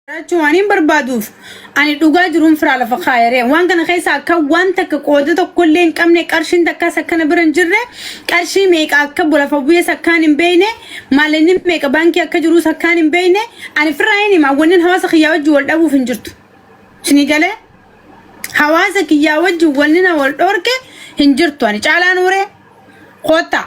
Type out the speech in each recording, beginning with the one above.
jiraachuu waan hin barbaaduuf ani dhugaa jiruun firaa lafa kaayaree waan kana keessa akka waan takka qooda tokko illee hin qabne qarshiin takkaas akkana bira hin jirre qarshii meeqa akka lafa bu'ees akkaan hin beekne maalinni meeqa baankii akka jiruus akkaan hin beekne ani firaa hin hima wannin hawaasa kiyyaa wajjin wal dhabuuf hin jirtu isinii galee hawaasa kiyyaa wajjin wannina wal dhorke hin jirtu ani caalaa nuuree koottaa.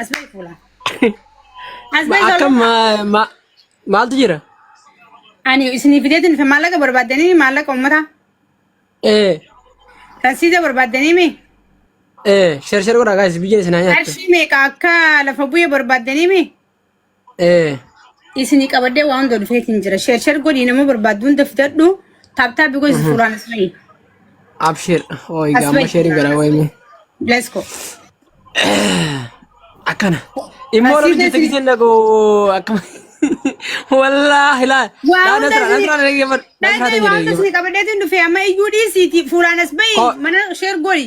As bahi fuula. As Ma- bahi Akka zoloma. ma- ma- maaltu jira? Ani isinii fideetiin fi maallaqa barbaaddanii maallaqa uummataa. Ee, Rasiida barbaaddanii mi? ee, sher sher godhaa gaa'is biyya isin haa nyaattu. Qarshii meeqa akka lafa bu'ee barbaaddanii mi? Eh. Isinii qabadee waan hunda dhufeetiin jira. Sheer sheer godhii nama barbaaddu hunda fidadhu. Taaptaa bigoo isa suuraan as bahi. Abshir. Oh, As egaa amma bahi. sheeriin garaa wayime. Let's go. Akkana. Immoo Asii rabbi jirti keessi- giseen dhagoo akkama. Wallaahi laa. Waa Laa hunda nasraa isinii- nasraa dhaggeeffadhu. Nasraa Dhagaa waan hunda dhaggeeffadhu. isinii qabadeetiin dhufe amma iyyuu dhiisiiti fuulaan as bahi. Ko- Mana sheer godhi.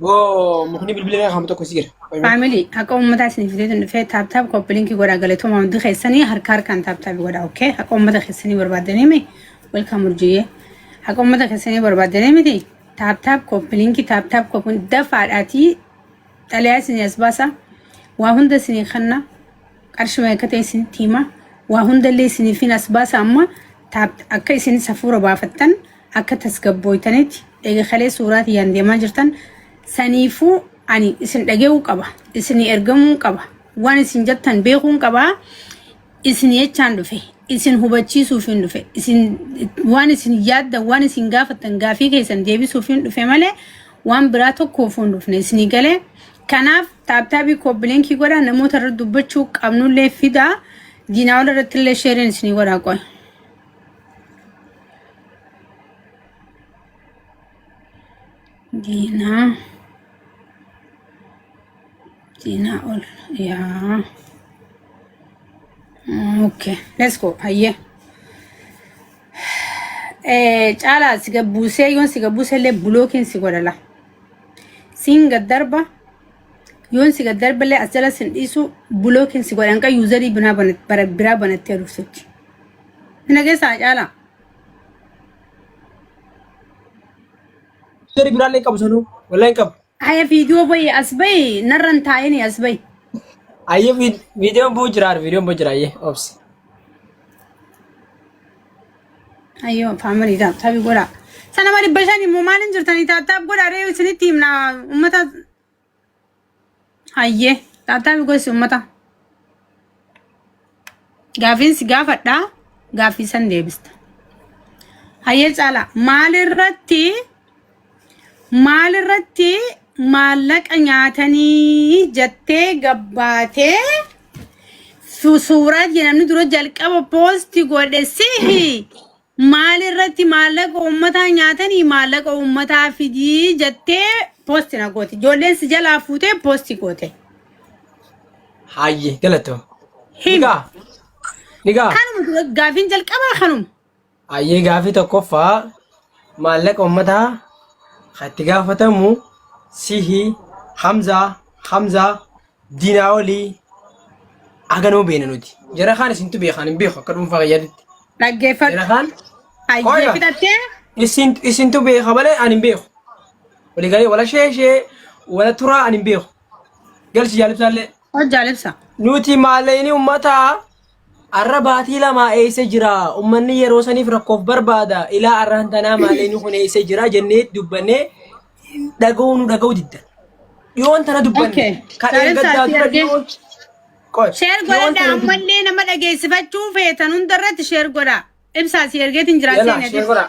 Boo mukni bilbila irraa kaamu tokko si jira. Qoy mee. Faamilii haqa uummataa isiniif fidee dhufee taaptaap koppilinkii godhaa galatooma hundi keessanii harka harkaan taaptaap godhaa okkee haqa uummata keessanii barbaaddanii mi welkaam urjiyyee haqa uummata keessanii barbaaddanii miti taaptaap koppilinkii taaptaap koppilinkii dafaadhaatii xalayaa isinii as baasa waa hunda isinii kanna qarshii meeqa ta'e isinitti hima waa hundallee isiniif hin as baasa amma taap akka isin safuura baafattan akka tasgabbooytanitti eega kalee suuraa tiyyaan deemaa jirtan saniifuu ani isin dhage'uu qaba isinii ergamuun qaba waan isin jettan beekuun qaba isin jechaan dhufe isin hubachiisuufiin dhufe isin waan isin yaaddan waan isin gaafattan gaafii keessan deebisuufiin dhufe malee waan biraa tokkoofuun dhufne isinii galee kanaaf taaptaabii koobbiliinkii godha namoota irra dubbachuu qabnullee fidaa diinaa ol irratti illee sheeriin isinii godhaa qoy. diinaa diinaa ol yaa okay let's go hayyee Eh, caalaa si gabbuusee yoon si gabbuusee illee bulookiin si godhala siin gad darba yoon si gad darba illee as jala sin dhiisu bulookiin si godhan kan yuuzarii binaa banat- bara- biraa banattee dhuftutti Hin dhageessaa caalaa. Seri biraan hin qabu sanuu. Walaa hin qabu. Aya fiidiyoo bayi as bayi narran taa'ini as bayi. Ayyee viidiyoon buu jiraar viidiyoon buu jira ayyee obsi. Ayyoo faamilii taaptaabi godhaa. Sana ma dhibba shan immoo maaliin jirtanii taaptaab godhaa ree isinitti himna uummata Hayyee taattaafi gosi uummataa gaafiin si gaafadhaa gaafii san deebista. Hayyee caalaa maalirratti maalirratti maallaqa nyaatanii jettee gabbaatee su- suuraa jedhamni dura jalqaba poosti godhe sihi Maal irratti maallaqa uummataa nyaatanii maallaqa uummataa fidii jettee poosti na goote. Ijoolleen si jalaa fuutee poosti goote. Hayyee galatoo. Him. Nigaa. Nigaa. Kanuma gaafiin jalqabaa kanuma. Hayyee gaafii tokkoffaa maallaqa uummataa kan itti gaafatamu sihi Hamzaa Hamzaa Diinaa olii haganoo beena nuti. Jara kaan isintu beekaan hin beeku akka dhuunfaa kiyyaatitti. Jara Dhaggeeffadhu. kaan Ayyee Qoya. fidhattee isin isintu beeka malee ani hin beeku. Walii galee wala shee shee wala turaa ani hin beeku. Galchi jaalibsaallee. hojjaa libsa. Nuti maalleeyni ummataa Arra baatii lamaa eeysa jira ummanni yeroo saniif rakkoof barbaada ilaa arraan tanaa maalee ni kun eeysa jira jennee dubbannee dhaga'uu nu dhaga'uu didda. Dhiyoon tana dubbanne Okay. kan Saaleen eeggaddaa saatii dura argee. dhiyoon Qoy, Sheer dhiyoon godhadha tana dubbanne. ammallee nama dhageessifachuu feetan hundarratti sheer godha. Ibsaa si ergeetiin jira Yalla, seeneetis. sheer godhaa.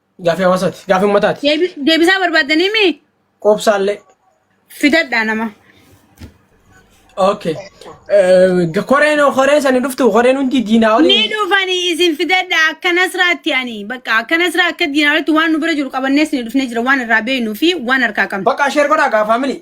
Gaafii hawaasaati. Gaafii uummataati. Deebi- Deebisaa barbaaddanii mi? Qoobsaallee. Fidadhaa nama. Okay. Eh, Koreen koreen sani dhuftu koreen hundi diinaa Ni olii. dhufanii isin fidadhaa akka nasraatti ani bakka akka nasraa akka diinaalitti waan nu bira jiru qabannees ni dhufnee jira waan irraa beeknuu fi waan harkaa qabnu. Bakka sheer godhaa gaa faamilii.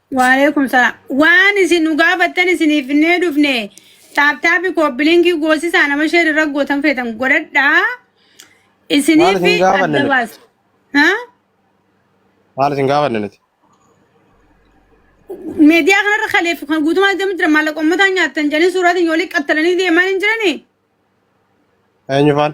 Waalaikum salaam. Waan isin nu gaafattan isiniif finnee dhufne taaptaapi koopbilinkii goosisaa nama sheer irra gootan feetan godhadhaa Maal isiniif isin gaafanne adda nuti? baasa. Ha? Maal isin gaafanne nuti? Meediyaa kanarra kaleef kan guutumaa deemu jira maallaqa uummataa nyaattan jedhanii suuraatiin yoo liqqattalanii deemaa hin jiranii? Eenyu faan?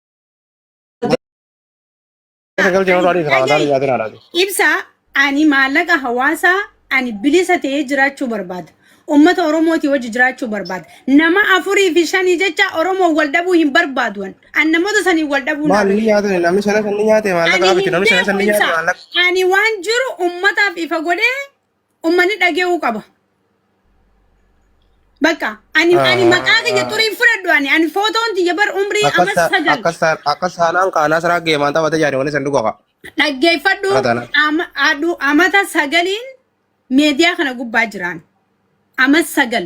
Ibsa ani maallaqa hawaasaa ani bilisa ta'ee jiraachuu barbaada. Uummata Oromootii wajji jiraachuu barbaada. Nama afurii fi shanii jecha Oromoo wal dhabuu hin barbaadu. an. An namoota saniin wal dhabuu naa Maal ni nyaate namni shanan san ni nyaate maallaqa Ani miti hin namni shanan beeku san ni nyaate ibsa. maallaqa. Ani waan jiru ummataaf ifa godhee Ummani dhage'uu qaba. Bakka ani ani maqaa kiyya xurii hin fudhadhu ani ani footoon tiyya bar umrii amma Akkas sagal akkas taan- akkas taanaan kaanaa siraa geemaan taphate jaani wani san dhugaa. dhaggeeffadhu Kana taanaan. ama- adhu- amata sagaliin meediyaa kana gubbaa jiraan. Ama sagal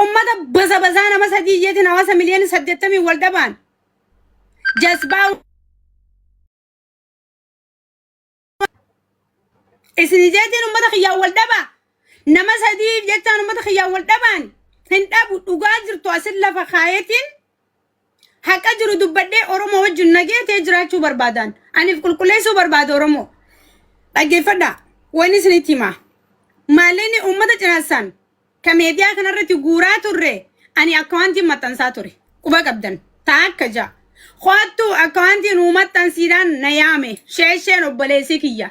Ummata baza bazaa nama sadii jeetiin hawaasa miliyoona saddeettamii wal dhabaan jasbaa isin jeetiin ummata kiyyaan wal dhabaa nama sadiif jechaan ummata kiyyaan wal dhabaan hin dhabu dhugaa jirtu asin lafa kaayetiin Haqa jiru dubbadhee Oromoo wajjin nagee ta'ee jiraachuu barbaadaan. Aniif qulqulleessuu barbaada Oromoo. Dhaggeeffadhaa. Wani isinitti himaa. Maallaqni uummata cinassaan ka meediyaa kanarratti guuraa turre ani akkawaantiin maxxansaa ture. Quba qabdan. Taa akka ja'a. Koottuu akkawaantii nuu maxxansiidhaan na yaame. Sheesheen obboleessii kiyya.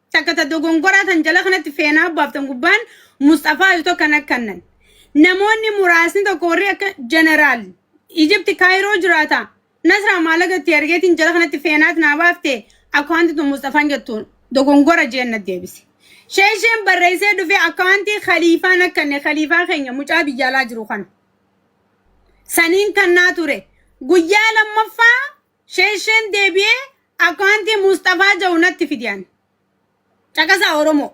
Takka ta dogongoraa tan jala kanatti feenaa baaftan gubbaan Musxafaa yoo tokko na kannan. Namoonni muraasni tokko warri akka Jeneraal Ijipti Kaayiroo jiraata. Nasraa maallaqa itti ergeetiin jala kanatti feenaat naa baafte akkawanti tun Musxafaan jettu dogongora jeen na deebise. Sheesheen barreessee dhufee akkawantii khaliifaa na kanne khaliifaa keenya mucaa biyyaalaa jiru kana. Saniin kannaa ture. Guyyaa lammaffaa Sheshen debiye akwanti musxafaa ja'u natti fidi ani caqasaa oromoo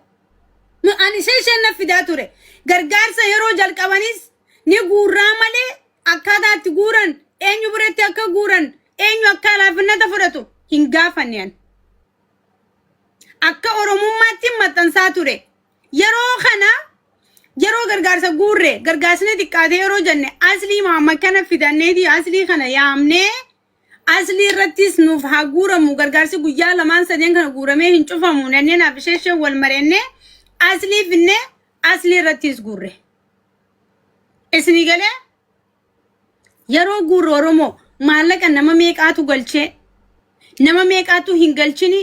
Nu- ani sheshen naf fidaa ture gargaarsa yeroo jalqabanis ni guurraa malee akkaataa itti guuran eenyu biratti akka guuran eenyu akka laafinnata fudhatu hin gaafanne ani akka oromummaatti maxxansaa ture Yeroo kana yeroo gargaarsa guurre gargaasni xiqqaate yeroo jenne aslii Muhammad kana fidanneeti aslii kana yaamnee aslii irrattis nuuf haa guuramu gargaarsi guyyaa lamaan sadeen kana guuramee hin cufamu nannee naaf ishee ishee wal marenne aslii finne aslii irrattis guurre. Isinii galee Yeroo guurru Oromoo maallaqa nama meeqaatu galchee nama meeqaatu hin galchini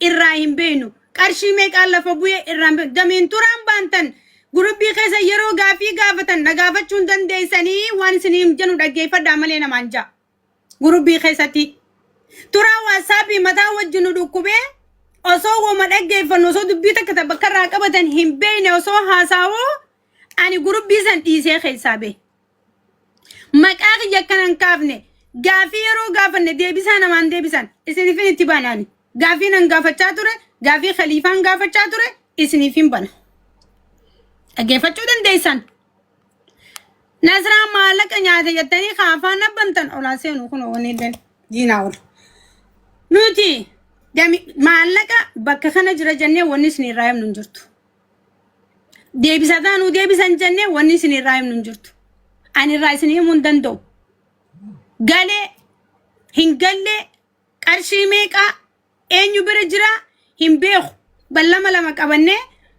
irraa hin beeknu. Qarshii meeqaan lafa bu'ee irraa hin beeknu. Gameen turaan baantan gurubbii keessa yeroo gaafii gaafatan na gaafachuu hin dandeessanii waan isiniin jennu dhaggeeffadhaa malee namaan ja'a. Gurubbii keessatti turaa waatsaappii mataa wajjin nu dhukkubee osoo woma dhaggeeffannu osoo dubbii takka ta bakka irraa qabatan hin beekne osoo haasaawoo Ani gurubbii san dhiisee keessaa bee. Maqaa kiyya akkana hin kaafne gaafii yeroo gaafanne deebisaa namaan deebisan isinifin itti bana ani. Gaafii nan gaafachaa ture gaafii khaliifaan gaafachaa ture isinifin bana. Dhaggeeffachuu dandeessan. Nasraa maallaqa nyaate jettanii kaafaa nabbantan olaa seenu kun wanni illee diinaa oolu. Nuti maallaqa bakka kana jira jennee wanni isin irraa himnu hin jirtu. deebisataa nu deebisan jennee wanni isin irraa himnu hin jirtu. Ani irraa isin himuu hin danda'u. Galee hin gallee qarshii meeqaa eenyu bira jiraa hin beeku. Ballama lama qabannee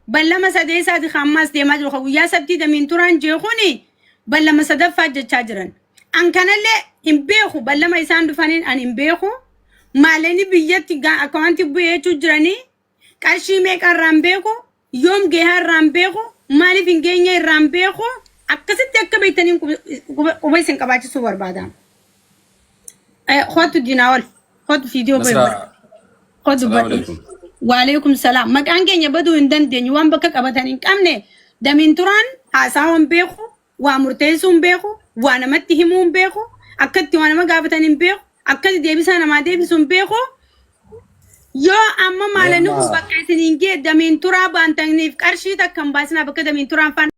ballama sadeessaati kan ammaas deemaa jiru kan guyyaa sabtii damiin turaan jee kuni ballama sadaffaa jechaa jiran. An kanallee hin beeku ballama isaan dhufaniin an hin beeku. Maalanii biyyatti gaa akkawanti bu'ee jechuu jiranii qarshii meeqa irraan beeku yoom geehaa irraan beeku maaliif hin geenye irraan beeku akkasitti akka beektaniin quba isin qabaachisuu barbaada. Kootu diinaa ol kootu fiidiyoo bahe Nasraa, godhe kootu salaamu badhe. alaikum. Waaleekum salaam. Maqaan keenya baduu hin dandeenyu waan bakka qabatan hin qabne damiin turaan haasaa waan beeku Waa murteessuu hin beeku, waa namatti himuu hin beeku, akka itti waa nama gaafatan hin beeku, akka itti deebisaa namaa deebisu hin beeku. Yoo amma maalanni kun Nama. bakka isin hin gee damiin turaa baantaniif qarshii takka hin baasinaa bakka damiin turaan faan